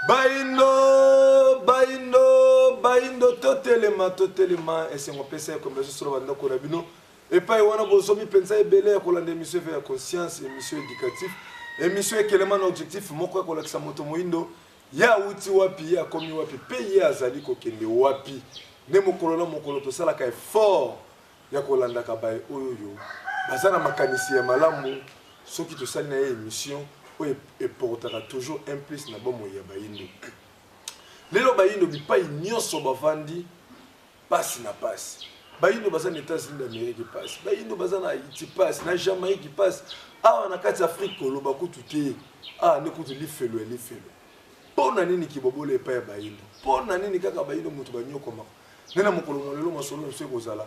baindo baindo baindo totelema totelema esengo pesa ya komesa solo bandako na bino epai wana bozomi mpenza ebele ya kolanda emission eve ya conscience emission éducatif emission ekelema na objectif moko ya kolakisa moto moindo ye awuti wapi ye akomi wapi mpe ye azali kokende wapi nde mokolo na mokolo tosalaka effort ya kolandaka baye oyo baza na makanisi ya malamu soki tosali na ye emission oyo eportaka toujours un plus na bomoi ya bayindo lelo bayindo bipai nyonso bavandi pasi na pasi bayindo baza na états-unis d'amérique pasi bayindo baza na haïti pasi na jamaïque pasi awa na kati ya afrique koloba kutu te awa nde kutu lifelo ya lifelo mpo na nini kibobola epai ya bayindo mpo na nini kaka bayindo moto banyokomaka nde na mokolo mwa lelo masolo na biso ekozala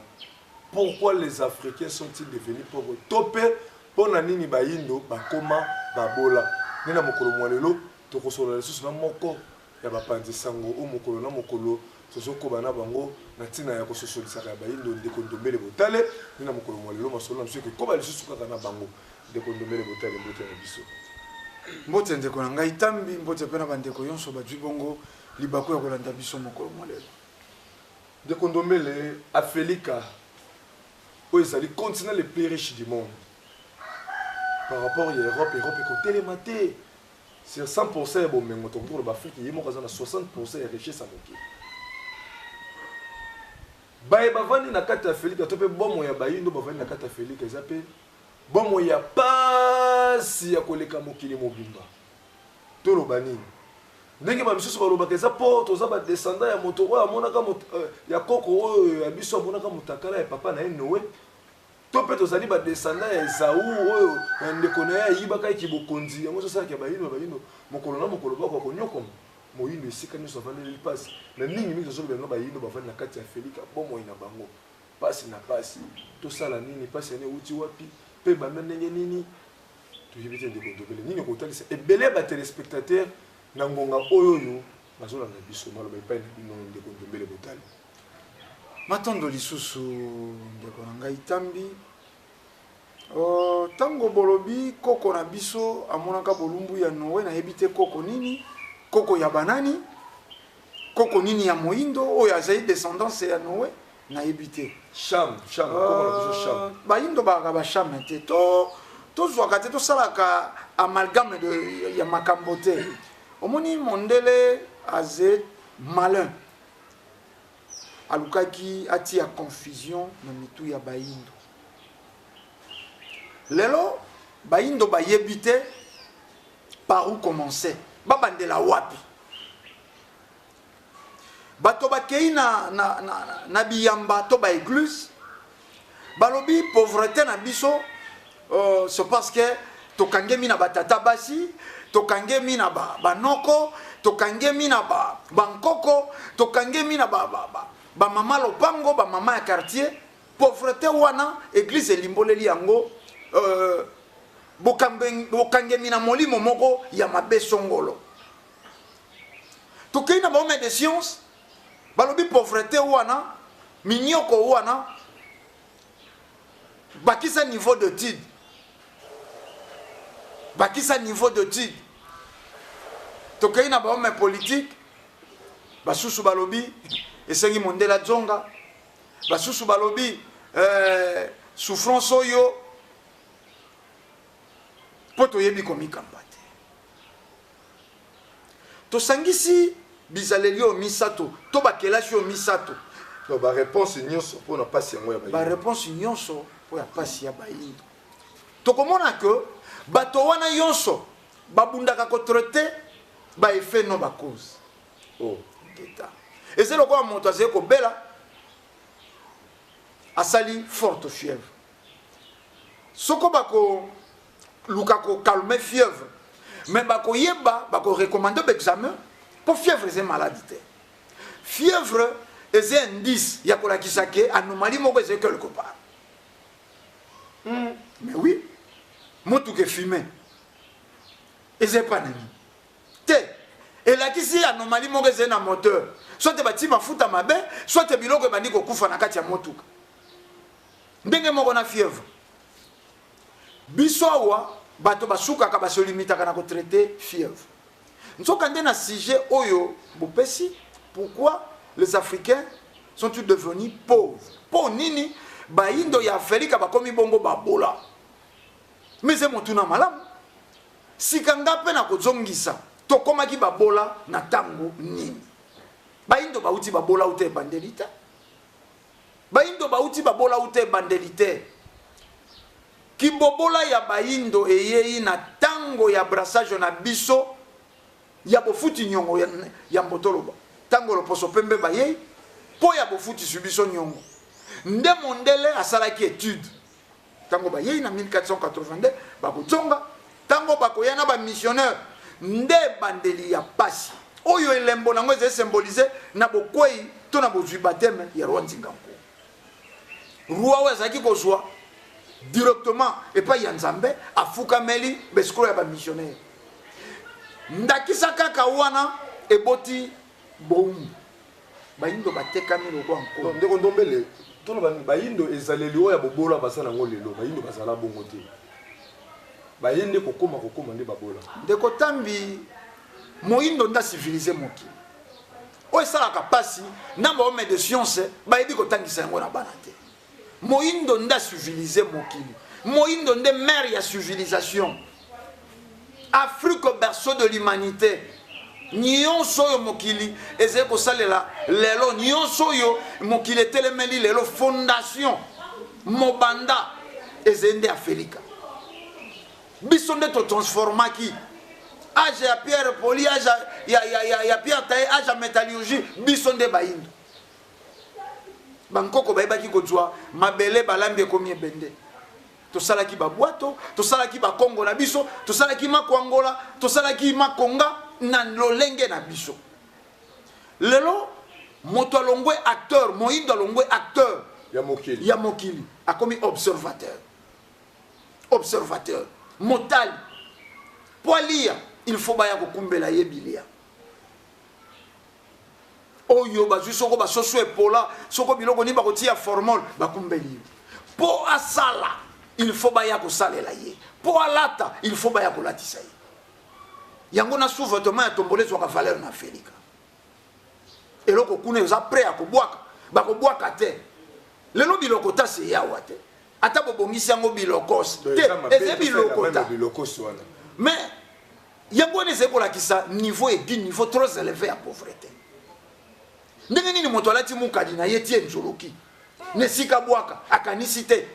pourquoi les africains sont-ils devenus pauvres to mpe mpo na nini bayindo bakoma babola nde na mokolo mwa lelo tokosolola lisusu na moko ya bapanzi sango o mokolo na mokolo tozokoba na bango na ntina ya kososolisaka ya bayindo ndeko ndombele botale nde na mokolo mwa lelo masolo na biso ekokoba lisusu kaka na bango ndeko ndombele botale mbote na biso mbote ndeko na ngai tambi mbote mpe na bandeko yonso bajwi bongo Libaku ya kolanda biso mokolo mwa lelo. Ndeko Ndombele, Afelika oyo ezali continent le plus riche du monde par rapport ya Europe, Europe ekotelema te sur 100% ya bomengo tokoki koloba Afrique ye moko aza na 60% ya richesse ya mokili. Baye bavandi na kati ya Afelika to mpe bomo ya bayindo bavandi na kati ya Afelika eza mpe bomo ya pasi ya koleka mokili mobimba. toloba nini ndenge ba misusu balobaka eza po toza ba descendant ya moto oyo amonaka euh, ya koko oyo ya biso amonaka mutakala ya papa na ye noe to mpe tozali ba descendant ya ezau oyo na ndeko na ye ayibaka ye kibokonzi yango ezosalaka ya bayindo ya bayindo mokolo na mokolo bako akonyokoma moyindo esika nyonso avandeli mpasi na mingi mingi tozoloba yango bayindo bavandi na kati ya felika bomoi na bango mpasi na mpasi tosala nini mpasi yani euti wapi mpe banda ndenge nini toyebi te ndeko ndobele nini okotalisa ebele ya batelespectateur na ngonga oyo oyo bazolanda biso maloba epai na bino ndeko ndombele botali matondo lisusu ndeko na ngai tambi ntango oh, bolobi koko na biso amonaka bolumbu ya noe nayebi te koko nini koko ya banani Koko nini ya moindo oyo azali descendance ya Noe nayebi te. Sham, Sham, koko na biso Sham. Euh, Baindo baka ba Sham te. To tozwaka te tosalaka amalgame de ya makambo te. Omoni mondele aze malin. Alukaki atia confusion na mitu ya baindo. Lelo baindo bayebi te Par où commencer? Ba bandela wapi? Bato bakei na, na, na, na biyamba to ba eglise balobi pauvreté na biso euh, c'est parce que tokangemi na batata basi tokangemi na ba, banoko tokangemi na ba, bankoko tokangemi na bamama ba, ba, ba, ba mama lopango bamama ya quartier Pauvrete wana eglise elimboleli yango euh, bokangemi na molimo moko ya mabe songolo tokei na bahomme de science balobi pauvrete wana minyoko wana bakisa niveau d'étude bakisa niveau d'étude tokei na bahomme politique basusu balobi esengi mondela zonga basusu balobi eh, souffrance oyo mpo toyebi komikamba te tosangisi bizaleli oyo misato to bakelasi oyo misato bareponse nyonso mpo na mpasi yango ya bareponse nyonso mpo ya mpasi ya bayindo tokomona ke bato wana nyonso babundaka kotraite baeffet no bacause oh. eza lokola moto azali kobela asali forte fièvre soko bakoluka kokalme fièvre mais bakoyeba bakorecommande baexamen mpo fièvre eza maladi te fièvre eza indice ya kolakisa ke anomalie moko ezali quelque part mm. mais oui motuka efime eza epa na nini te elakisi anomalie moko ezali na moteur soit batii mafuta mabe soit biloko ebandi kokufa na kati ya motuka ndenge moko na fièvre biso awa bato basukaka basolimitaka na kotraite fièvre nzoka nde na sujet oyo bopesi pourquoi les africains sont ils devenus pauvres mpo nini bayindo ya afrika bakomi bongo babola mize motuna malamu Sika nga pe nakozongisa tokomaki babola na ntango nini? Baindo bauti babola uta ebandeli te. Baindo bauti babola uta ebandeli te. Kibobola ya baindo eyei na ntango ya brassage na biso ya bofuti nyongo ya mbotoloba. Ntango loposo pembe bayei mpo ya bofutisi biso nyongo, nde mondele asalaki etude Tango bayei na 1482 bakozonga, tango bakoya na ba missionnaires nde ebandeli ya pasi oyo elembo nango ezali symboliser na bokwei to na bozwi bateme ya roi nzinga nko roi oyo azalaki kozwa directement epai ya nzambe afukameli besikolo ya bamissionnaire ndakisa kaka wana eboti Bomi. Bayindo batekami lokola nkolo. Ndeko Ndombele, toloba nini? Bayindo ezaleli oyo ya bobola baza na yango lelo, bayindo bazala bongo te. Baye nde kokoma kokoma nde babola. Ndeko Tambi, moyindo nde acivilise mokili. Oyo esalaka mpasi na bahomme de science bayebi kotangisa yango na bana te. moyindo nde civilise mokili moyindo nde mare ya civilisation afrique au berceau de l'humanité nyonso oyo mokili ezali kosalela lelo nyonso oyo mokili etelemeli lelo fondation mobanda ezali nde afelika biso nde totransformaki age ya pierre poli age ya, ya, ya, ya pierre taye age ya métallurgie biso nde bayindo bankoko bayebaki kozwa mabele balambi ekomi ebende tosalaki babwato tosalaki bakongo na biso tosalaki makwangola tosalaki makonga na lolenge na biso lelo moto alongwe acteur moindo alongwe acteur ya mokili, ya mokili. akomi observateur observateur motali mpo alia il faut baya kokumbela ye bilia oyo bazwi soko basoso epola soko biloko nini bakotia formol bakumbeli yo mpo asala il faut baya kosalela ye mpo alata il faut baya kolatisa ye yango na sous-vêtement ya tombole ezwaka valeur na felika eloko kuna eza prêt ya kobwaka bakobwaka te lelo biloko tasi eyawa te ata bobongisi yango bilokos te eza biloko ta mais yango wana ezali kolakisa niveau edi niveau trop eleve ya pauvrete ndenge nini moto alati mukadi na ye tie nzuluki na esika bwaka akanisi te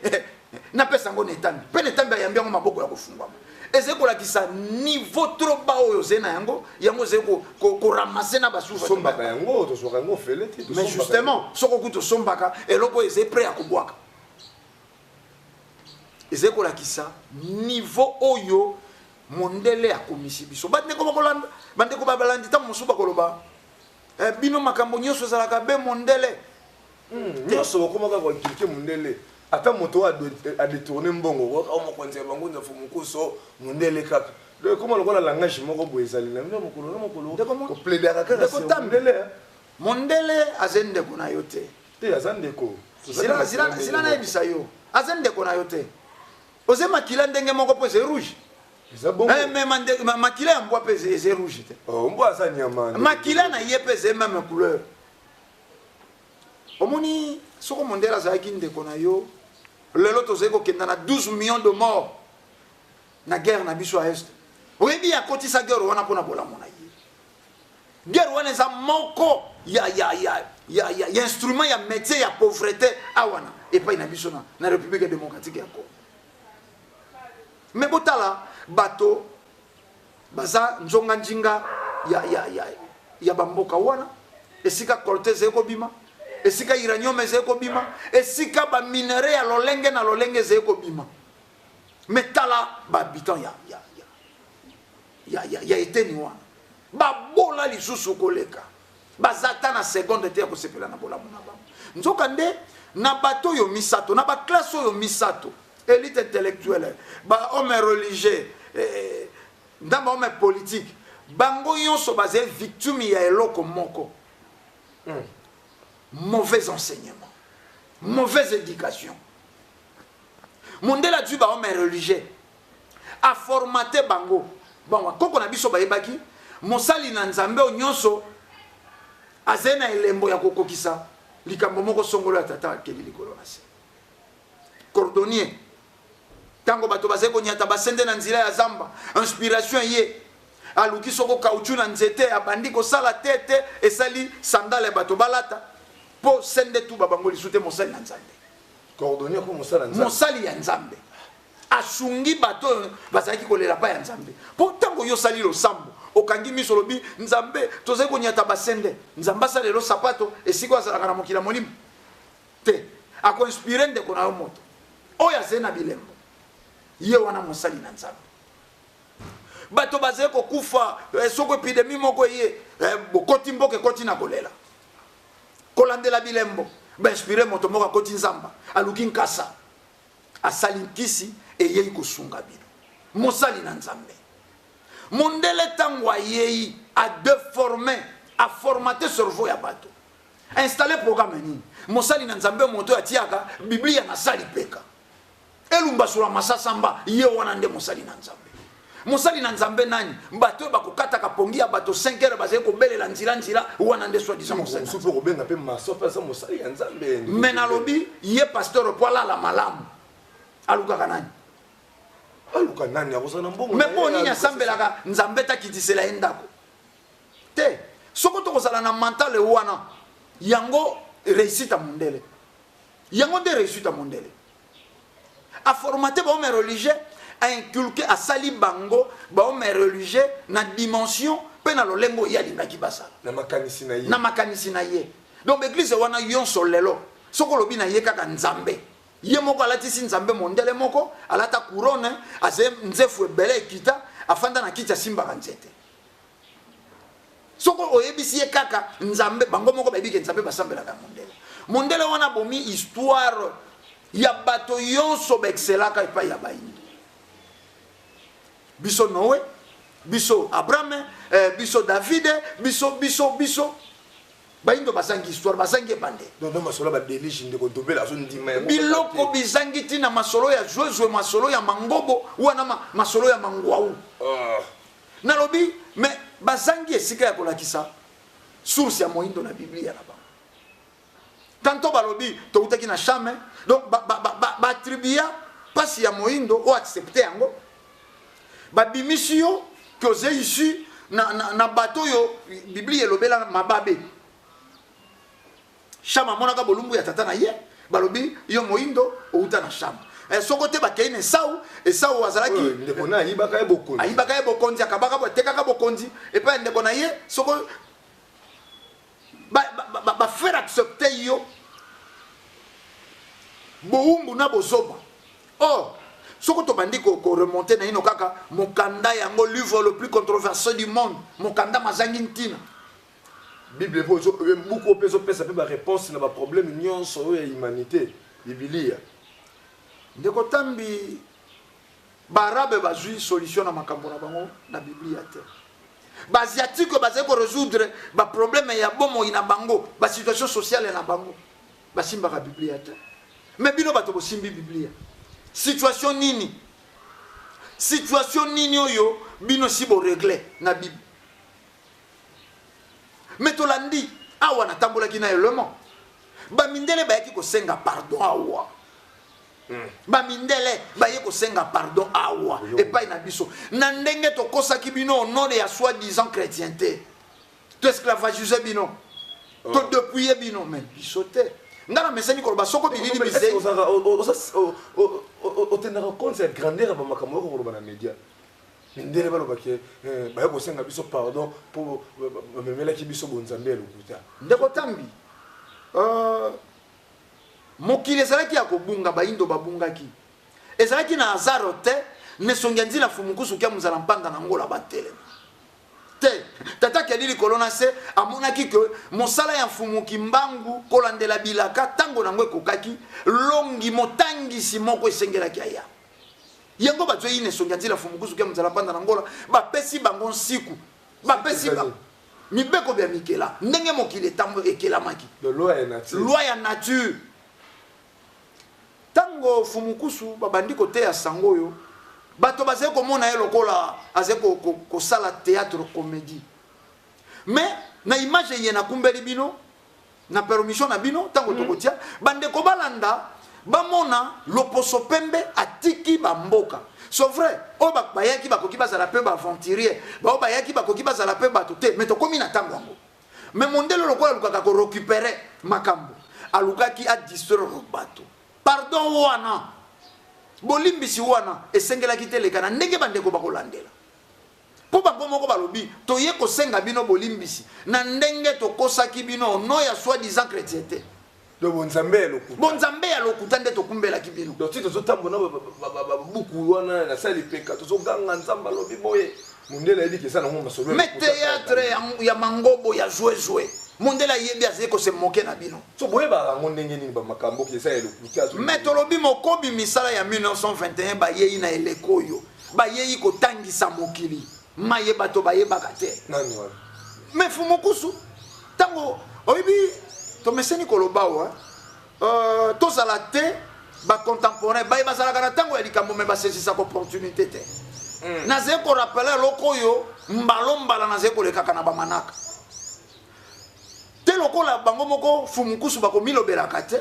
napesa yango na etambi mpe na etambi ayambi yango maboko ya kofungwama ezali kolakisa niveau trop bas oyo ozali na yango yango ozali koramase na basusombaka yango tozwaka yango ofele te mais justement soko kutu osombaka eloko oyo ezali pre ya kobwaka ezali kolakisa niveau oyo mondele akomisi biso bandeko bakolanda bandeko babalandi ntango mosusu bakoloba eh, bino makambo nyonso ezalaka be mondele hmm, nyonso bakomaka koinklike mondele ata moto oyo adetourne mbongo kaka oh, mokonzi ya bango nzafo mokuso mondele kaka ekoma lokola langage moko boye ezali na bino mokolo na mokolo kopledaka kaka mondele mondele azali ndeko na yo te te aza ndeko zila zila zila nayebisa yo aza ndeko na yo te oze makila ndenge moko mpo eze rouge eh, mais makila ya mbwa mpe eze rouge te oh, mbwa aza nyama makila na ye mpe eze meme couleur omoni soko mondele azalaki ndeko na yo lelo tozali kokenda na 12 millions de mort na guerre na biso ya est oyebi akotisa guerre wana mpo na bolamo na ye Guerre wana eza moko ya ya ya ya ya, ya instrument ya métier ya pauvreté awana epai na biso na, na République démocratique ya Congo. Mais botala bato baza nzonga njinga ya ya ya ya bamboka wana esika colonne ezali kobima esika uranium ezali kobima esika baminerai ya lolenge na lolenge ezali kobima Mais tala ba habitants ya ya ya ya ya, ya eteni wana babola lisusu koleka baza ata na seconde te ya kosepela na bolamu na bango nzoka nde na bato oyo misato na baklasse oyo misato élite intellectuelle bahomme religieux eh, na bahomme politique bango nyonso bazali victime ya eloko moko mm. mauvais enseignement mauvaise éducation mondele azwi bango mai religieux aformate bango bango koko na biso bayebaki mosali na nzambe oyo nyonso azali na elembo ya kokokisa likambo moko songolo ya tata akeli likolo na se cordonnier ntango bato bazali konyata basende na nzela ya zamba inspiration eye aluki soko kauchu na nzete abandi kosala te te esali sandale ya bato balata mpo sende tuba bango lisu te mosali na nzambe coordonner ko mosala nzambe mosali ya nzambe asungi bato oyo bazalaki kolela pa ya nzambe mpo ntango yo osali losambo okangi miso olobi nzambe tozali konyata basende nzambe asala elo sapato esika oyo azalaka na mokili ya molimo te akoinspire ndeko na yo moto oyo azali na bilembo ye wana mosali na nzambe bato bazali kokufa eh, soko epidemi moko eye eh, bokoti mboka ekoti na kolela kolandela bilembo ba inspire moto moko akoti nzamba aluki nkasa asali nkisi eyei kosunga bino mosali na nzambe mondele ntango ayei adeforme aformate cerveau ya bato installe programme nini mosali na nzambe moto atiaka biblia na sali peka elumbasula masasamba ye wana nde mosali na nzambe mosali na nzambe nani bato oyo bakokataka pongi ya bato 5 heure bazali kobelela nzila nzila wana nde swadisa mosalisoki okobenga mpe maso mpe aza mosali ya nzambe me nalobi ye pasteur mpo alala malamu alukaka nani aluka nani akozala na mbongo me mpo nini asambelaka nzambe takitisela ye ndako te soko tokozala na mentale wana yango réussite ya mondele yango nde réussite ya mondele a formater ba hommes religieux a inculquer asali bango ba hommes religieux na dimension mpe na lolengo ye alingaki basala na makanisi na ye na makanisi na ye donc baeglize wana yonso lelo soki olobi na ye kaka nzambe ye moko alatisi nzambe mondele moko alata couronne aze nzefu ebele ekita afanda na kiti asimbaka nzete soki oyebisi ye kaka nzambe bango moko bayebi ke nzambe basambelaka ya mondele mondele wana bomi histoire ya bato yonso baexcelaka epai ya baindi biso noe biso abrahame eh, biso davide biso biso biso baindo bazangi histoire bazangi ebande biloko bizangi ntina masolo ya zwezwe masolo ya mangobo wana masolo ya mangwau ah. Nalobi me bazangi esika ya kolakisa source ya moindo na Biblia na bango. Tanto balobi toutaki na shame, donc ba, ba, ba, ba, ba attribua pasi ya moindo o accepte yango babimisi yo ke oza issu na, na, na bato oyo biblia elobela mababe shama amonaka bolumbu ya tata na ye balobi yo moindo outa na shama eh, soko te bakei na esau esau azalaki ndeko na ayibaka ye bokonzi ayibaka ye bokonzi akabaka atekaka bokonzi epai ya ndeko na ye soko bafere accepte yo bowumbu na bozoba or oh, soko tobandi koremonte na ino kaka mokanda yango livre le plus controversé du monde mokanda mazangi ntina Bible mpe ozo eh, buku oyo mpe ezopesa mpe bareponse na baprobleme nyonso oyo ya humanité bibilia ndeko tambi baarabe bazwi solution na makambo na bango na biblia te baasiatique oyo bazali koresoudre baprobleme ya bomoi na bango basituation sociale na bango basimbaka biblia te me bino bato bosimbi biblia situation nini situation nini oyo bino si boregle na bible me tolandi awa natambolaki na elemo bamindele bayaki kosenga pardon awa hmm. bamindele baye kosenga pardon awa epai na biso na ndenge tokosaki bino onode ya soi disant chrétien te toesclavagise bino oh. todepuye bino me biso te nga na mesani koloba soko bilili bizei otendaka compte ya grandeur ya bamakambo yoko koloba na média mindele baloba ke eh, baye kosenga biso pardon mpo bamemelaki biso bonzambe ya lokuta ndeko tambi euh, mokili ezalaki ya kobunga bayindo babungaki ezalaki na azaro te nesongi ya nzila fumukusu kia mozala mpanga na ngola batelema te tata keli likolo na se amonaki ke mosala ya mfumu kimbangu kolandela bilaka ntango na yango ekokaki longi motangisi moko esengelaki aya yango bazwi ine songi anzila fumukuzu kia mzala mpanda na ngola bapesi bango nsiku bapesi bango mibeko bya mikela ndenge mokili etambo ekelamaki loi ya nature ntango fumukusu babandi koteya sango oyo bato bazali komona ye lokola azali kosala ko, ko théâtre comédie mais na image eye nakumbeli bino na permission na bino ntango tokotia bandeko balanda bamona loposo pembe atiki bamboka so vrai oyo ba- bayaki bakoki bazala mpe baaventurier baoyo bayaki bakoki bazala mpe bato te me tokomi na ntango yango me mondele lokola alukaka korecupere makambo alukaki adistraire bato pardon wana bolimbisi wana esengelaki te eleka na ndenge bandeko bakolandela Mpo bango moko balobi, Toye kosenga bino bolimbisi na ndenge tokosaki bino au nom ya soi-disant chretiente. Donc bonzambe ya lokuta. Bonzambe ya lokuta nde tokumbelaki bino. Donc ti tozotambola na buku wana na sali peka tozoganga nzambe alobi boye. Mundele ayebi kesa nango masolo ya lokuta. Mais theatre ya mangobo ya joue joue. mondele ayebi azali kose moke na bino so boyebaka yango ndenge nini bamakambo eza ya lokuta me tolobi mokobi misala ya 1921 bayei na eleko oyo bayei kotangisa mokili maye bato bayebaka te nani wana me fumukusu ntango oyebi tomeseni koloba awa uh, tozala te bacontemporain baye bazalaka na ntango ya likambo me basesisaka opportunité te mm. nazali korapele eloko oyo mbalombala nazali kolekaka na bamanaka te lokola bango moko fumukusu bakomilobelaka te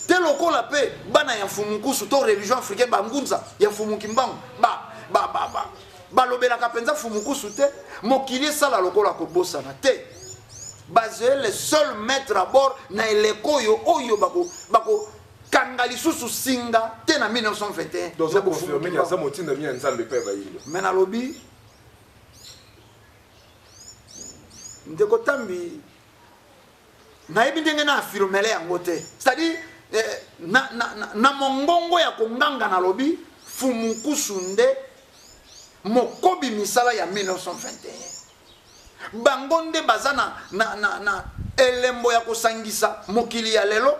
te lokola mpe bana ya fumukusu to religion africain bangunza ya fumukimbangu ba, ba, ba, ba. balobelaka mpenza fumukusu te mokili esala lokola kobosana te bazali le seul maître à bord na eleko oyo oyo bako, bako kanga lisusu singa te na 1921 me nalobi ndeko tambi nayebi ndenge na afirmele yango te c'est-à-dire eh, na, na, na, na mongongo ya konganga nalobi fumukusu nde mokobi misala ya 1921 bango nde baza na, na, na, na elembo ya kosangisa mokili ya lelo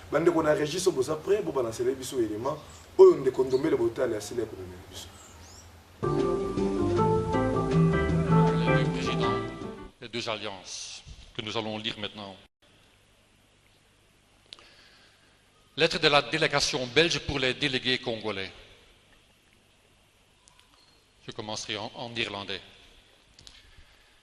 Bandeko na regie so boza prêt bo balancele biso element oyo ndeko Ndombele Botale asila ekomemela biso. Les deux alliances que nous allons lire maintenant. Lettre de la délégation belge pour les délégués congolais. Je commencerai en, en irlandais.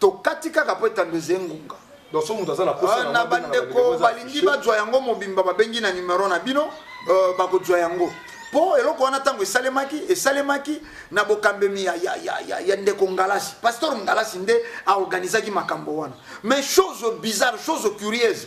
tokati kaka mpo etando eze ngunga donc so moto aza na posa na bandeko balingi bajwa yango mobimba babengi na numero na bino euh, bakojwa yango mpo eloko wana ntango esalemaki esalemaki na bokambemi ya, ya, ya, ya, ya ndeko ngalasi pasteur ngalasi nde aorganisaki makambo wana mais chose bizarre chose curieuse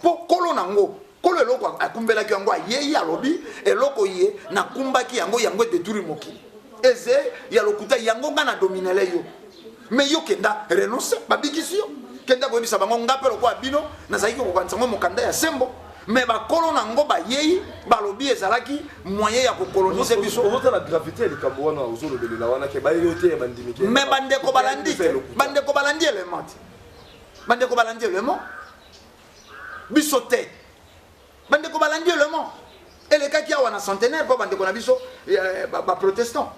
mpo kolo na yango kolo eloko akumbelaki yango ayei alobi eloko ye nakumbaki yango yango edeturi mokili eze ya lokuta yango ngai na dominele yo me yo kenda renonce babikisi yo kenda koyebisa bango ngai mpe lokola bino nazalaki kokokanisa yango mokanda ya sembo me bakolo na yango bayei balobi ezalaki moyen ya kokolonise biso ozotala gravité ya likambo wana ozolobelela wana ke bayebi yo te bandimi te me bandeko balandi te bandeko balandi element te bandeko balandi element biso te bandeko balandi elemo elekaki awa na centenaire mpo bandeko na biso eh, baprotestant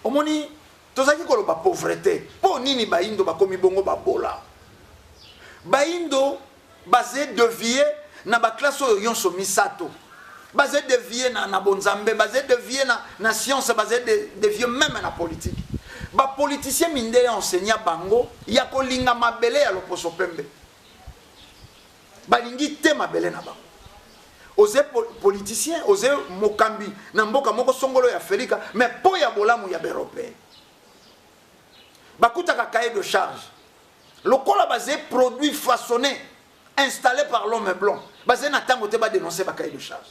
omoni tozalaki koloba pauvrete mpo nini baindo bakomi bongo babola baindo baze devie na baklasse oyo nyonso misato baze devie na, na bonzambe baze devie na, na science baze de, devie meme na politique bapoliticien minde ya enseigne bango ya kolinga mabele ya loposo pembe balingi te mabele na bango oze politicien oze mokambi na mboka moko songolo ya felika me mpo ya bolamu ya baeuropeen bakutaka cahier de charge lokola baze produit façonne installe par l'homme blanc bazali na ntango te badenonse bakai de charge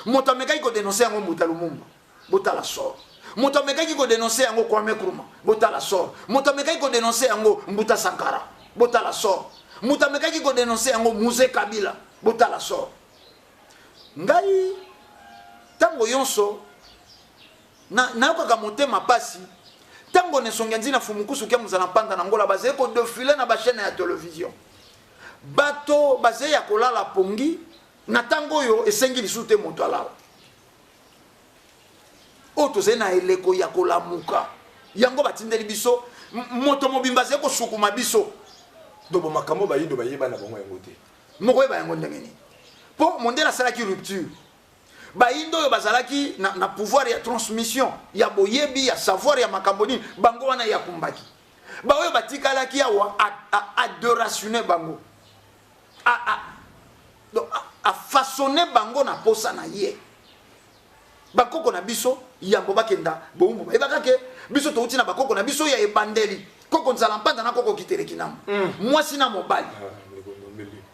moto amekaki kodenonse yango mbuta lumumba botala sor moto amekaki kodenonse yango kwame kruma botala sor moto amekaki kodenonse yango mbuta sankara botala sor moto amekaki kodenonse yango muse kabila botala sor ngai ntango yonso Na, nayokaka motema pasi tango nesongia nzina fumukusu kia muzala mpanda na ngola bazali kodefile na bashene ya television bato bazali ya kolala pongi na ntango oyo esengi lisusu te moto alala oyo tozali na eleko ya kolamuka yango batindeli biso moto mobimba azali kosukuma biso dobo makambo bayindo bayeba na bango yango te mokoyeba yango ndenge nini mpo mondele asalaki rupture bayindo oyo bazalaki na, na pouvoir ya transmission ya boyebi ya savoir ya makambo nini bango wana ye akumbaki baoyo batikalaki awa adoratione bango afaçonne bango na mposa na ye bakoko na biso yambo bakenda bowumbu bayebaka ke biso touti na bakoko na biso ya ebandeli koko nzala mpanda na koko kiteleki na mm. mwasi na mobali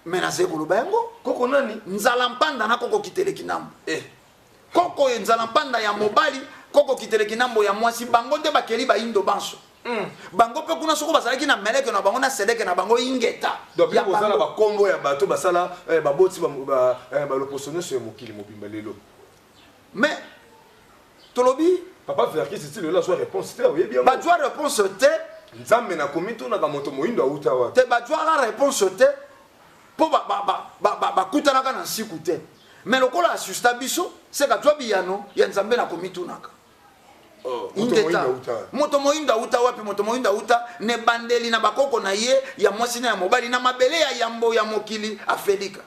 me nazali koloba yango koko nani nzala mpanda na koko kiteleki nambo eh. koko oyo nzala mpanda ya mobali koko kiteleki nambo ya mwasi bango nde bakeli baindo banso mm. bango mpe kuna soko bazalaki na meleke na bango na sedeke na bango ingeta kozala bakombo ya bato basala eh, baboti baloposo eh, nyonso ya mokili mobimba lelo mais tolobi papa verkis ti lelo azwa réponse te oyebi yango bazwa réponse te nzambe na komitunaka moto moyindo awuta wapi te bazwaka réponse te mpo bakutanaka na nsiku te mais lokola asusta biso se kazwa biyano ya nzambe na komitunaka oh, ingeta moto moyindo awuta wapi moto moyindo awuta na ebandeli na bakoko na ye ya mwasi na ya mobali na mabele ya yambo ya mokili afelika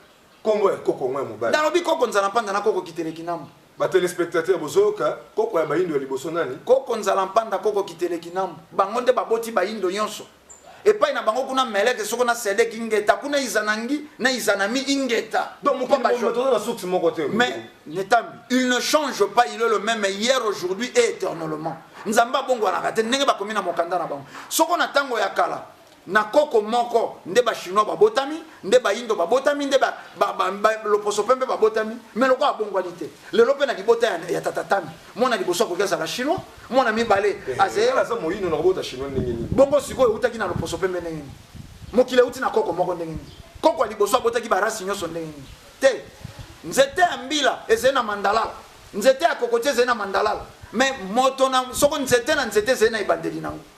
Kombo ya koko ngo ya mobali. Nalobi koko nzala mpanda na koko kitele kinambo. Ba telespectateurs bozoyoka koko ya bayindo ya liboso nani? Koko nzala mpanda koko kitele kinambo. Bango nde baboti bayindo nyonso. Epai na bango kuna meleke soko na sedek ingeta kuna izanangi na izanami ingeta. Donc mokili mobimba toza na source moko te. Mais netambi il ne change pas il est le même hier aujourd'hui et éternellement. Nzambe abongwanaka te ndenge bakomi na mokanda na bango. Soko na tango ya kala na koko moko nde ba chinois babotami nde bayindo babotami nde loposo pembe babotami me lokola abongwani te lelo mpe na libota ya, ya tatatami mwana liboso akoki azala chinois mwana mibale eh, eh, azeaza moyindo na kobota chinois ndenge nini bongo sikoyo eutaki na loposo pembe ndenge nini mokili euti na koko moko ndenge nini koko ya liboso abotaki barasi nyonso ndenge nini te nzete ya mbila ezali na mandalala nzete ya kokoti ezali na mandalala me moto na soko nzete na nzete ezali na ebandeli nango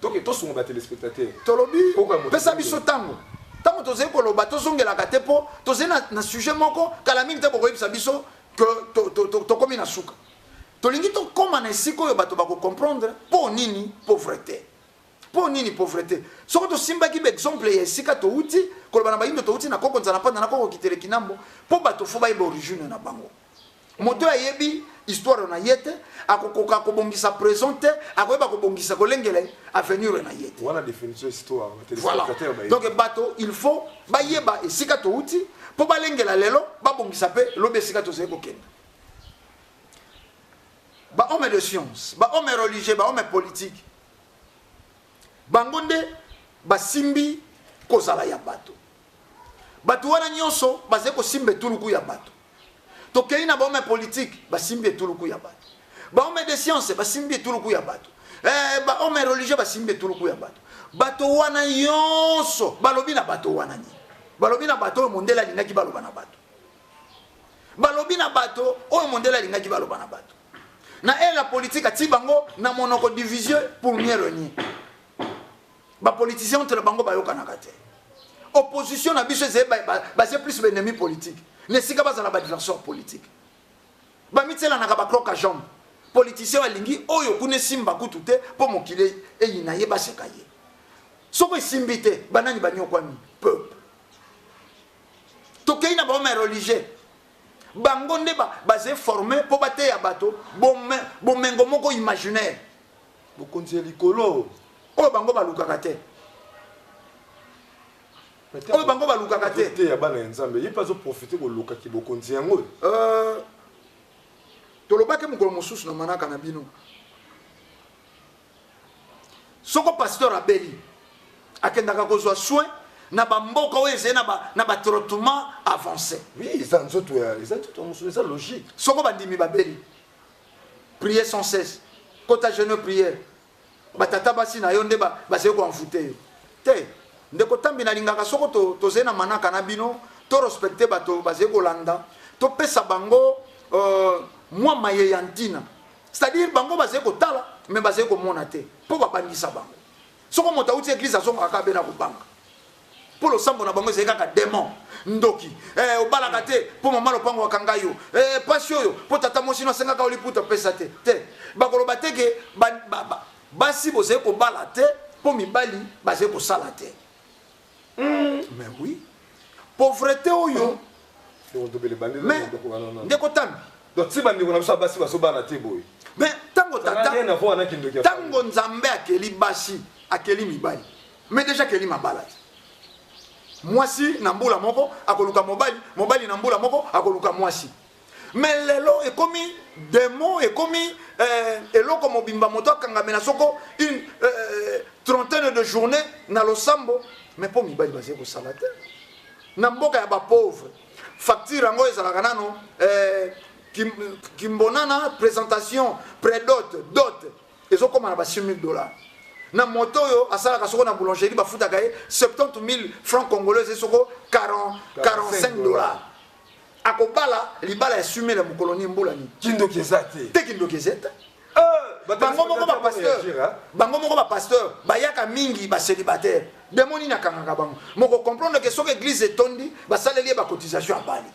toke tosunga ba telespectateur tolobi pesa biso ntango ntango tozali koloba tozongelaka te mpo tozali na, na sujet moko kala mingi te bokoyebisa biso ke tokómi to, to, to, to na suka tolingi tokóma na esika oyo bato bakocomprendre mpo nini pauvreté mpo nini pauvreté soki tosimbaki baexemple ya esika touti koloba na bayindo touti na koko nzala mpanda na koko kitele kinambo mpo bato fo bayeba origine na bango moto ayebi histoire na ye te akokoka kobongisa présent te akoyeba kobongisa kolengela avenir na ye te wana définition histoire voilà donc bato il faut bayeba esika touti mpo balengela lelo babongisa mpe lobi esika tozali kokenda bahomme de science bahomme religieux bahomme politique bango nde basimbi kozala ya bato bato wana nyonso bazali kosimba etuluku ya bato tokeyi na bahomme politique basimbi etuluku ya bato bahomme de science basimbi etuluku ya bato eh, bahomme religieux basimbi etuluku ya bato bato wana yonso balobi na bato wana nini balobi na bato oyo mondele alingaki baloba na bato balobi na bato oyo mondele alingaki baloba na bato na ela politike atii bango na monoko division pour mieux regner Ba politiciens entre bango bayokanaka te. Opposition na biso ezali base plus baennemi politique. Na esika bazala baadversaire politique. Bamitiselanaka bakroka jambe. Politicien alingi oyo kuna esimba kutu te mpo mokili eyina ye baseka ye. Soko esimbi te banani banyokwami peuple. Tokei na baoma ya religieux bango nde bazali forme mpo bateya bato bomengo moko imaginaire bokonzi ya likolo oyo bango balukaka te oyo bango balukaka te te ya bana ya nzambe ye mpe azoprofite koluka kibokonzi yango euh, tolobaki mokolo mosusu na manaka na bino soko pasteur abeli akendaka kozwa soin na bamboka oyo ezali na batraitement avancé oui eza nzoto ya eza nzoto ya mosolo eza logique soko bandimi babeli prier sans cesse kota jeune prière batata basi na yo nde bazali koenvoute yo te ndeko tambi nalingaka soko tozali na manaka na bino to respecte bato bazali kolanda topesa bango euh, mwa maye ya ntina c'est-à-dire bango bazali kotala me bazali komona te mpo babangisa bango soko moto auti eglise azongaka kaka be na kobanga mpo losambo na bango ezali kaka demon ndoki eh, obalaka te mpo mama lopango akanga yo eh, pasi oyo mpo tata mosino asengaka oliputa apesa te te bakoloba te ke ba, ba, ba, basi bozali kobala te mpo mibali bazali kosala te mm. mais oui pauvrete oyo ndeko tambi donc ti bandeko na biso ya basi bazobala te boye mais ntango tata ntango nzambe akeli basi akeli mibali Mais déjà Kelly mabala te. Mwasi na mbula moko akoluka mobali, mobali na mbula moko akoluka mwasi. Mais lelo ekomi demo ekomi euh, eloko mobimba moto akangamela soko une euh, trentaine de journée na losambo mais mpo mibali bazali kosala te na mboka ya bapauvre facture yango ezalaka nano euh, kimbonana présentation prédote dote ezokoma na ba 6000 dollars na moto oyo asalaka soko na boulangerie bafutaka ye 70 000 francs congolais eze soko 40, 45 dollars akobala libala ya sumele ya mokolo ni mbula nini kindoki eza te te kindoki eza te euh, bango moko bapasteur bango moko bapasteur bayaka mingi bacélibataire demo nini akangaka bango moko comprendre ke soki église etondi basaleli ye bacotisation abali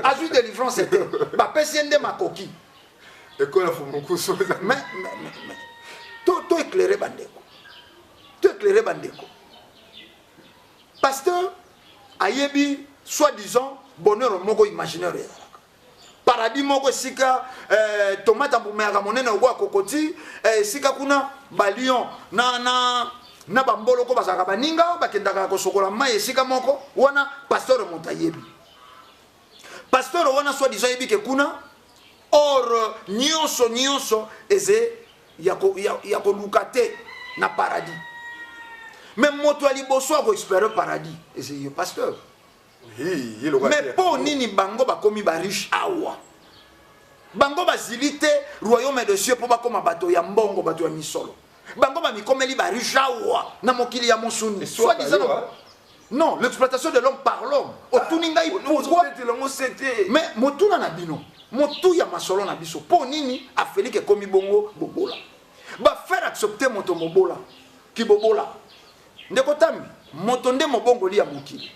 azwi délivrance te bapesi ye nde makoki ekola fumukusu to éclaire bandeko to éclaire bandeko pasteur ayebi soit disant bonheur moko imaginaire ezalaka paradis moko esika eh, tomate ambumayaka monene okoya kokoti eh, esika kuna balion na, na, na bamboloko bazalaka baninga bakendaka kosokola mai esika moko wana pasteur moto ayebi pasteur wana soit disant yebi ke kuna or nyonso nyonso eze ya koluka te na paradis me moto ya liboso akoespere paradis eze yo pasteur me mpo nini bango bakomi bariche awa bango bazili te royaume de cieux mpo bakoma bato ya mbongo bato ya misolo bango bamikomeli barijawa na mokili ya mosuni soit disant hein. non l'exploitation de l'homme par l'homme otuni ngai ah, pourquoi mais motuna na bino motu ya masolo na biso mpo nini afelike ekomi bongo bobola bafaire accepte moto mobola kibobola ndeko tambi moto nde mobongoli ya mokili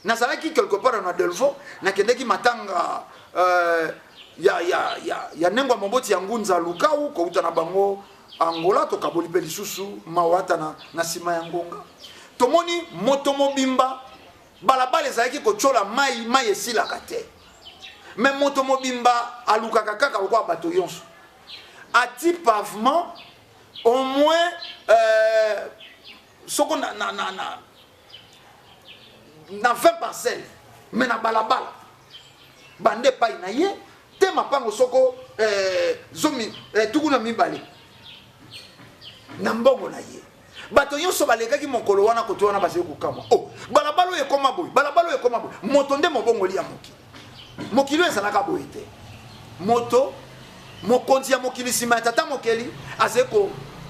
nazalaki quelque part na delvaux nakendeki matanga euh, ya, ya, ya, ya nengo ya moboti ya ngunza lukau kouta na bango angola tokaboli mpe lisusu mawata na, na nsima ya ngonga tomoni moto mobimba balabala ezalaki kotyola mai mai esilaka te me moto mobimba alukaka kaka lokola bato yonso ati pavement au moins euh, soko na, na, na, na na 20 parcelle me na balabala bande epai na ye te mapango soko eh, zomi eh, tuku na mibale na mbongo na ye bato nyonso balekaki mokolo wana koto wana bazali kokamwa o oh, balabala oyo ekoma boye balabala oyo ekoma boye moto nde mobongoli ya mokili mokili oyo ezalaka boye te moto mokonzi ya mokili nsima ya tata mokeli azali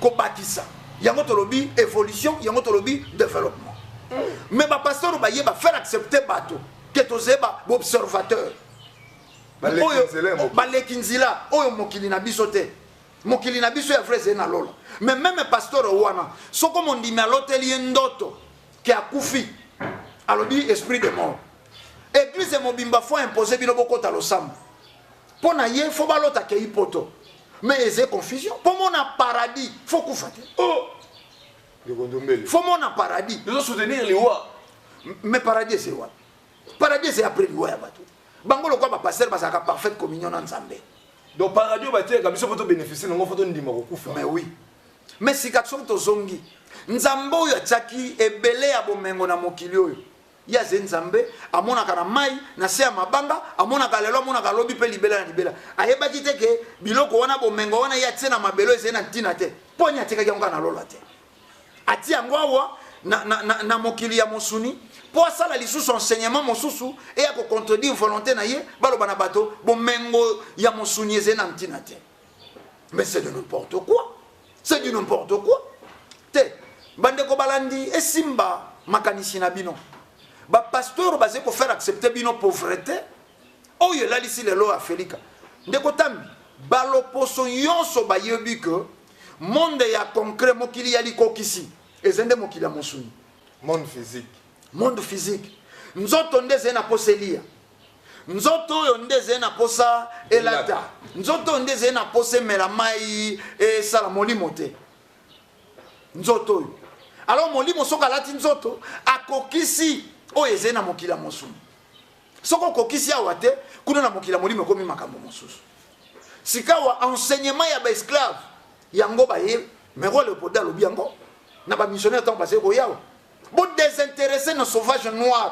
kobakisa yango tolobi évolution yango tolobi développement mm. mais bapasteur baye bafaire accepte bato ke tozali baobservateur baleki nzela oyo mokili na biso te mokili na biso ya vrai ezali na lola mais meme pasteur wana soko mondimi aloteli ye ndoto ke akufi alobi esprit de mort Eglise mobimba faut imposer bino bokota losambo. Mpo na ye faut balota akei poto. Mais eze confusion. Mpo mona paradis faut kufa te. Oh! Faut mona paradis. Nous soutenir liwa. Mais paradis c'est wapi? Paradis c'est après liwa ya bato. Bango lokola ba pasteur bazalaka parfaite communion na Nzambe. Donc paradis batiaka biso mpo to bénéficier nango mpo tondima kokufa. Mais oui. Mais sika soki tozongi Nzambe oyo atiaki ebele ya bomengo na mokili oyo ye aze nzambe amonaka na mai na se ya mabanga amonaka lelo amonaka lobi mpe libela na libela ayebaki te ke biloko wana bomengo wana ye atie na mabelo ezali na ntina te mpo ni atikaki yango kaka na lola te atie yango awa na, na, na, na mokili ya mosuni mpo asala lisusu enseignement mosusu eya kocontredire volonté na ye baloba na bato bomengo ya mosuni ezali na ntina te mais c'est de n'importe quoi c'est du n'importe quoi te bandeko balandi esimba makanisi na bino bapasteur baze kofaire accepte bino pauvreté oyo elalisi lelo ya felika ndeko tambi baloposo nyonso bayebi ke monde ya concret mokili ya likokisi eza nde mokili ya mosuni monde physique monde physique nzoto nde ezali na mposa eliya nzoto oyo nde ezali na mposa elata nzoto oyo nde ezali na mposa emela mai esala molimo te nzoto oyo alors molimo soki alati nzoto akokisi oyo ezali na mokili ya mosuni soki okokisi awa te kuna na mokili ya molimo ekomi makambo mosusu sikawa enseignement ya baesclave yango baye mero leopolda alobi yango na bamissionnaire ntango bazali koyawa bodesinteresse na sauvage noir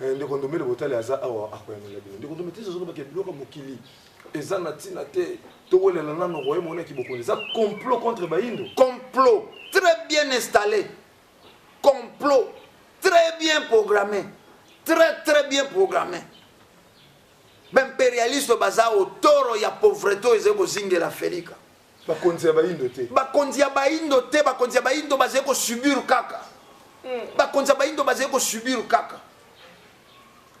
Eh, ndeko ndombele botali aza awa akoyanola bino ndeko ndombele tezozolo bake biloko mokili eza na ntina te towelela nano roye mona kibokonzi eza complot contre bayindo complot très bien installé complot très bien programmé très très bien programmé baimperialiste baza otoro ya pauvreté oyo ezali kozingela felika bakonzi ya bayindo te bakonzi ya bayindo te bakonzi ya bayindo bazali kosubir kaka hmm. bakonzi ya bayindo bazali kosubir kaka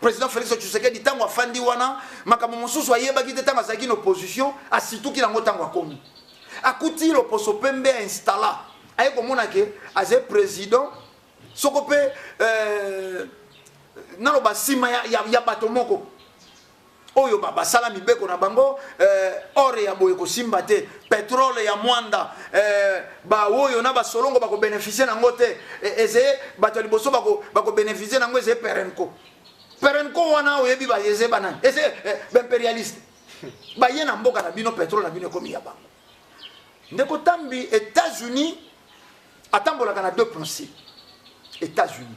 président félix tshisekedi ntango afandi wana makambo mosusu ayebaki te ntango azalaki na opposition asituki nango ntango akomi akuti loposo pembe ya installa aye komona ke azali président soko mpe euh, naloba nsima ya, ya, ya bato moko oyo basala mibeko na bango eh, ore ya boye kosimba te petrole ya mwanda eh, baoyo na basolongo bakobenefisie na yango te eh, eze bato ya liboso bakobenefisie na yango eze perenco perenco wana oyebi bayeze banani eze eh, baimperialiste baye na mboka na bino petrole na bino ekomi ya bango ndeko tambi états-unis atambolaka na deux principe états-unis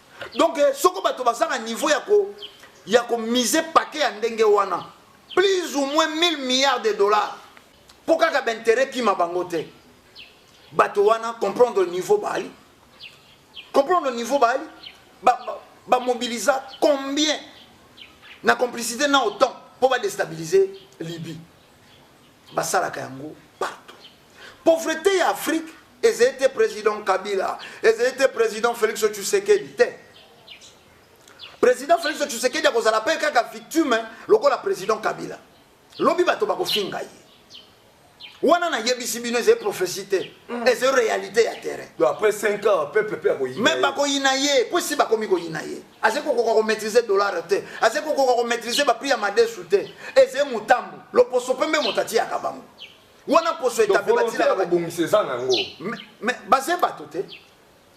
donc eh, soko bato baza na niveau ya ko ya ko mise paquet ya ndenge wana plus ou moins 1000 milliards de dollars mpo kaka bainteret kima bango te bato wana comprendre niveau baali comprendre niveau baali bamobilisa ba, ba combien na complicité na autant mpo badestabilise libye basalaka yango Pauvreté ya Afrique ezali te président Kabila, ezali te président Félix Tshisekedi te. Président Félix Tshisekedi akozala pe kaka victime lokola président Kabila. Lobi bato bakofinga ye. wana nayebisi bino ezali prophétie te mm. ezali réalité ya terrain après 5 ans peuple pe akoyina mais bakoyina ye mpo esi bakomi koyina ye azali kokoka komaîtrise dollar te azali kokoka komaîtrise baprix ya madesu te ezali motambo loposo mpe mbe moto atiyaka bango wana poso etape batilaka kobongisa eza na yango mais baze bato te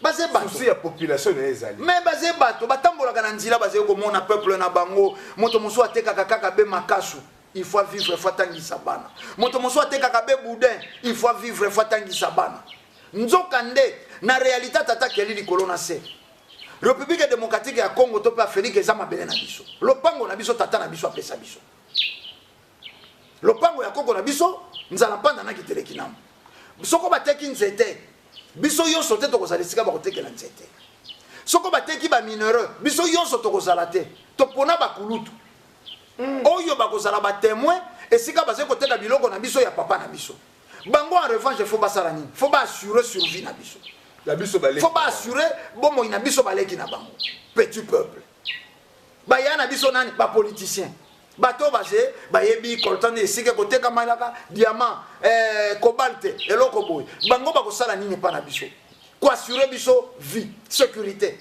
baze basusi ya population na ye ezali me baze bato batambolaka na nzela bazali komona peuple na bango moto mosusu atekaka kaka be makasu il faut vivre faut atangisa bana moto mosusu atekaka be boudin il faut vivre faut atangisa bana nzoka nde na réalité tata keli likolo na se république démocratique ya congo to mpe afrique eza mabele na biso lopango na biso tata na biso apesa biso lopango ya koko na biso nzala mpanda na kiteleki namo soko bateki nzete biso yonso te tokozala esika bakotekela nzete soko bateki bamineureux biso yonso tokozala te topona bakulutu mm. oyo bakozala batemoin esika bazali koteka biloko na biso ya papa na biso bango en revanche fo basala nini fo baassure survie na biso fo baassure bomoi na biso baleki na bango petit peuple baya na biso nani bapoliticien bato oyo baze bayebi coltan esika ekotekama elaka diamant eh, cobalte eloko boye bango bakosala nini epa na biso koassure biso vie sécurité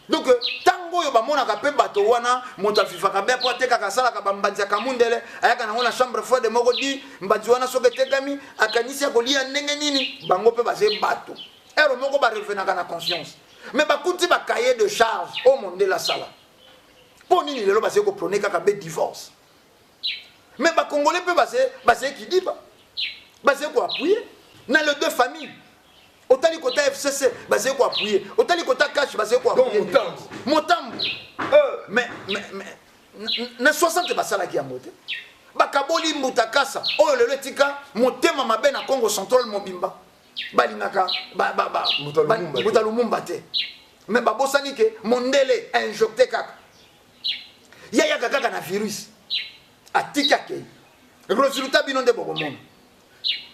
donc ntango oyo bamonaka mpe bato wana moto avivaka be mpo atekaka asalaka bambanzi ya kamundele ayaka nango na chambre froide moko di mbanzi wana soki etekami akanisi akolia ndenge nini bango mpe baze bato ero moko barevenaka na conscience mais bakuti ba cahier de charge oyo oh, mondele asala mpo nini lelo bazali koprone kaka be divorce mais bakongole mpe bazali kidiba bazali koapuye na le deux famille otali kota fcc bazali koapuye otali kota cash bazali koapuye motambo euh. mais na 60 basalaki yango te bakaboli mbuta kasa oyo lelo etika motema mabe na congo central mobimba balingaka mbuta lumumba te me babosani ke mondele ainjokte kaka ye ayaka kaka na virus atiki akei resultat bino nde bokomona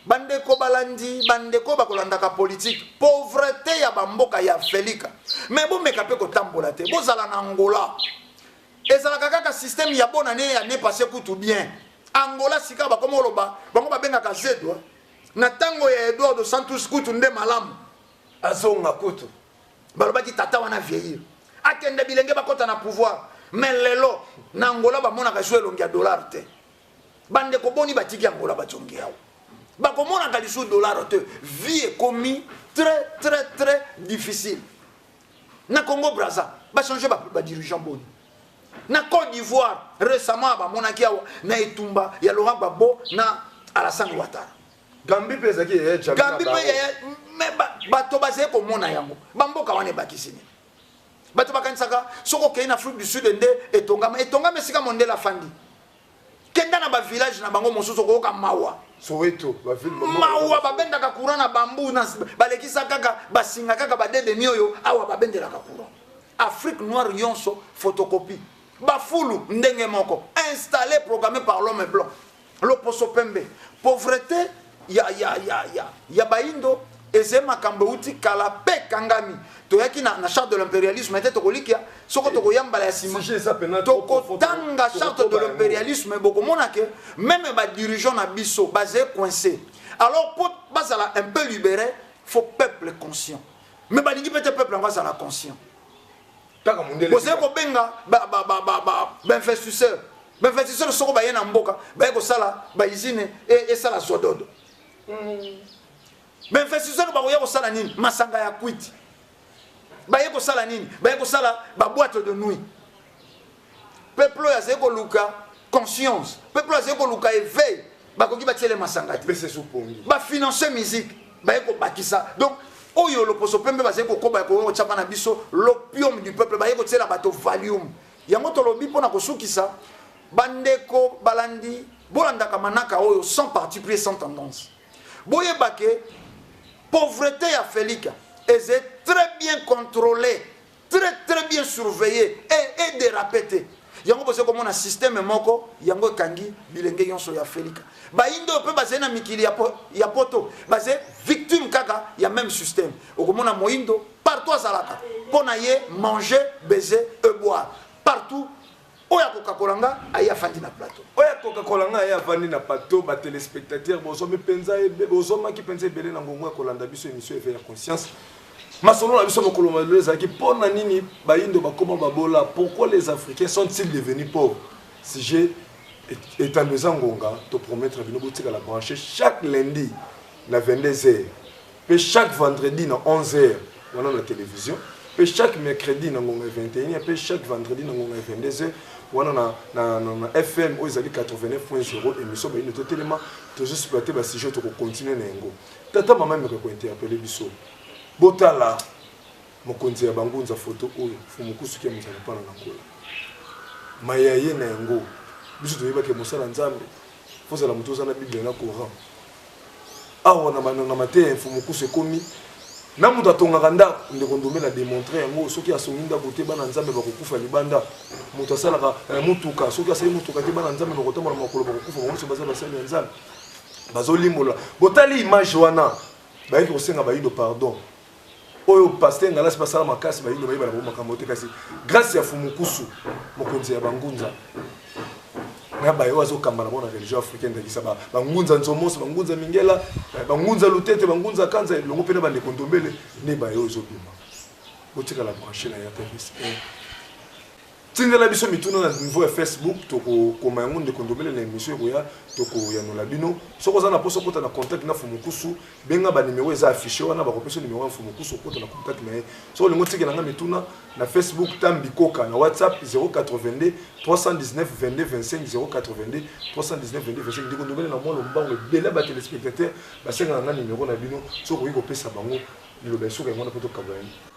bandeko balandi bandeko bakolandaka politike pauvrete ya bamboka ya felika me bomeka mpe kotambola te bozala na angola ezalaka kaka systeme ya bonane ya ne passe kutu bien angola sika bakoma oloba bango babengaka zedwa Na tango ya Eduardo dos Santos kutu nde malamu azonga kutu. Balobaki tata wana vieillir. Akende bilenge bakota na pouvoir. Mais lelo na Angola bamonaka lisusu elongi ya dollar te. Bandeko boni batiki Angola bajongi yawo. Bakomonaka lisusu dollar te. Vie ekomi très très très difficile. Na Congo Brazza ba changer ba, ba dirigeant boni. na Côte d'Ivoire récemment bamonaki awa na etumba ya Laurent Gbagbo na Alassane Ouattara Gambie mpe ezalaki yaya Jammeh Gambie mpe yaya mais bato bazali komona yango bamboka wana ebakisi nini bato bakanisaka soki okei na Afrique du Sud nde etongama etongama esika mondele afandi kenda na ba village na bango mosusu okoyoka mawa soweto mawa babendaka courant na bambu balekisa kaka basinga kaka badedemi oyo awa babendelaka courant afrique noire yonso photocopie bafulu ndenge moko installe programme par l'homme blanc loposo pembe pauvreté ya, ya, ya, ya, ya baindo eze makambo euti kala mpe ekangami toyaki na, na charte de l'impérialisme te tokolikia soko eh, tokoya mbala ya nsima tokotanga charte de l'impérialisme bokomona ke meme badirigeant na biso baze coince alors mpo bazala un peu libéré faut peuple conscient mais balingi mpe te peuple yango azala conscient kaka mundele bozali kobenga bainvestisseur bainvestisseur soko baye na mboka baye kosala baizine e, esala zododo mm. bainvestisseur bakoya kosala nini masanga ya kwiti baye kosala nini baye kosala baboite de nuit peuple oyo azali koluka conscience peuple oyo azali koluka éveil bakoki batyele masanga te bafinance musique baye kobakisa donc oyo loposo pembe bazali kokoba ekoki kotyama na biso l'opium du peuple baye kotyela bato valium yango tolobi mpo na kosukisa bandeko balandi bolandaka manaka oyo sans parti pris sans tendance boyeba ke pauvreté ya felika eze très bien contrôlée très très bien surveiller et, et déraper te yango bozo komona système moko yango ekangi bilenge yonso ya felika bayindo mpe bazali na mikili ya, po, ya poto bazali victime kaka ya même système okomona moyindo partout azalaka mpo na ye manger baiser eboire partout oyo akokakola nga aye afandi na plateau oyo akokakola nga aye afandi na plateau ba téléspectateurs bozomi penza bozomaki penza ebele na ngongo ya kolanda biso émission éveil ya conscience masolo na biso mokolo malelo ezalaki mpo na nini bayindo bakoma babola pourquoi les africains sont-ils devenus pauvres sujet etando eza ngonga topromettre bino botikala branche chaque lundi na 22 heures Pe chaque vendredi na 11h wana na television, pe chaque mercredi na ngonga 21h, pe chaque vendredi na ngonga 22h wana na, na, na, na FM oyo ezali 89.0 émission bayino totelema tozo exploiter ba sujet toko continuer na yango. Tata mama meko ko interpeller biso. Botala mokonzi ya bangunza foto oyo fumukusuki ya mozala mpana na kola maya ye na yango biso toyebaki mosala nzambe fozala moto oza na biblia na coran awa na bana na mateya ya mfumukusu ekomi na moto atongaka ndako ndeko ndomela demontre yango soki asongi ndako te bana nzambe bakokufa libanda moto asalaka eh, motuka soki asali motuka te bana nzambe bakotambola makolo bakokufa bango nyonso baza basali ya nzambe bazolimbola botali image wana bayaki kosenga bayido pardon oyo pasteur ngalasi basala makasi bayindo bayebana bango makambo te kasi grâce ya fumukusu mokonzi ya bangunza na baye oyo azokamba na bona religion africaine ndakisa bangunza nzomoso bangunza mingela eh, bangunza lutete bangunza kanza elongo mpe na bandeko ndombele nde baye oyo ezobima botikala branche na ya tevis eh. tindela biso mituna na niveau ya facebook tokokoma yango ndeko ndomele na émission ekoya tokoyanola bino soki oza na mposa okota na contact na fumukusu benga banimero eza affiche wana bakopesa nimero ya fumukusu okota na contact na ye soki olingi otikela nga mituna na facebook tam bikoka na whatsapp 082 319 22 25 082 319 22 25 ndeko ndomele na mwa lombango ebele ba téléspectateur basengaka nga nimero na bino soki okoki kopesa bango liloba esoka yango wana mpo tokabola yango